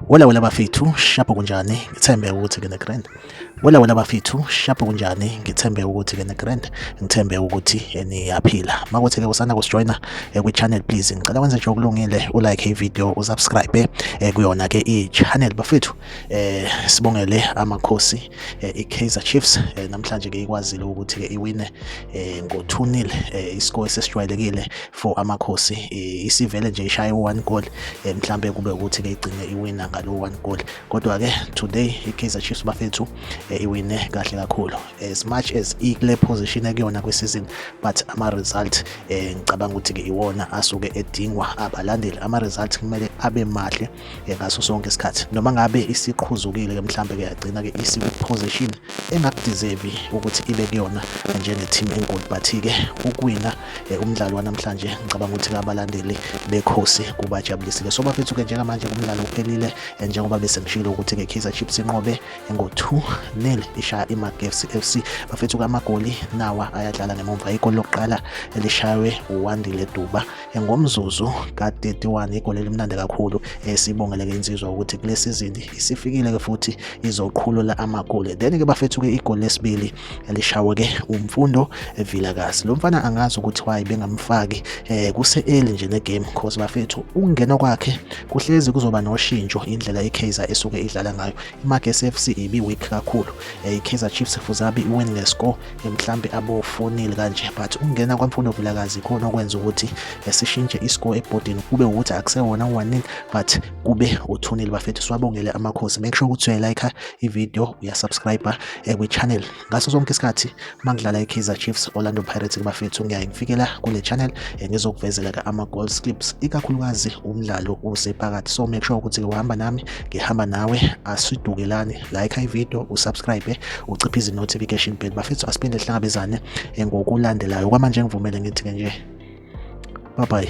Wala wala bafethu shapho kunjani ngithembe ukuthi kene grand Wala wala bafethu shapho kunjani ngithembe ukuthi kene grand ngithembe ukuthi niyaphila makuthi ke usana kusijoina eh, kwi channel please ngicela wenze nje okulungile u like i video u subscribe eh, kuyona ke i channel bafethu eh sibongele amakhosi eh, iKaizer Chiefs eh, namhlanje ke ikwazile ukuthi ke iwine eh, ngo 2-0 eh, iscore sesijwayelekile for amakhosi eh, isivele nje ishaye one goal eh, mhlambe kube ukuthi ke igcine iwina ngalo one goal kodwa ke today iKaizer Chiefs bafethu eh, iwine kahle kakhulu as much as ikule position ekuyona kwisizini but ama result eh, ngicabanga ukuthi ke iwona asuke edingwa abalandeli ama result kumele abe mahle eh, ngaso sonke isikhathi noma ngabe isiqhuzukile ke mhlambe ke yagcina ke isi position engakudeserve ukuthi ibe kuyona njenge team enkulu but ke ukuwina eh, umdlalo wanamhlanje ngicabanga ukuthi abalandeli bekhosi kubajabulisile so bafethu ke njengamanje kumdlalo uphelile eh, njengoba bese ngishilo ukuthi ke Kaizer Chiefs inqobe ngo 2 nil ishaya iMagesi FC bafethu kamagoli nawa ayadlala ngemumva ikolo lokuqala elishaywe uWandile Duba ngomzuzu ka-31 igoli elimnandi kakhulu eh, sibongeleke insizwa ukuthi kule sizini isifikile-ke futhi izoqhulula amagoli then-ke bafethu-ke igoli lesibili lishawe-ke umfundo evilakazi lo mfana angazi ukuthi wayi bengamfaki um kuse-eli nje negame cause bafethu ukungena kwakhe kuhlezi kuzoba noshintsho indlela ikaizer esuke idlala ngayo imagesi f c ibi-weak kakhulu um ikaizer chiefs fuzabi iwin ngescore mhlambe abofonile kanje but ukungena kwamfundo vilakazi khona okwenza ukuthi esishintshe iscore ebhodini kube ukuthi akusewona one but kube uthunile bafethu siwabongele amakhosi make sure ukuthi uyayilike ivideo uyasubscribe eh, kwi-channel ngaso sonke isikhathi uma ngidlala i-kaizer chiefs orlando pirates bafethu ngiyaye ngifikela kule channel eh, ngizokuvezela ke ama-goal slips ikakhulukazi umdlalo usephakathi so make sure ukuthi-ke uhamba nami ngihamba nawe asidukelani like ivideo usubscribe uciphe izi-notification bell bafethu asiphinde sihlangabezane ngokulandelayo kwamanje ngivumele ngithi-ke nje bye bye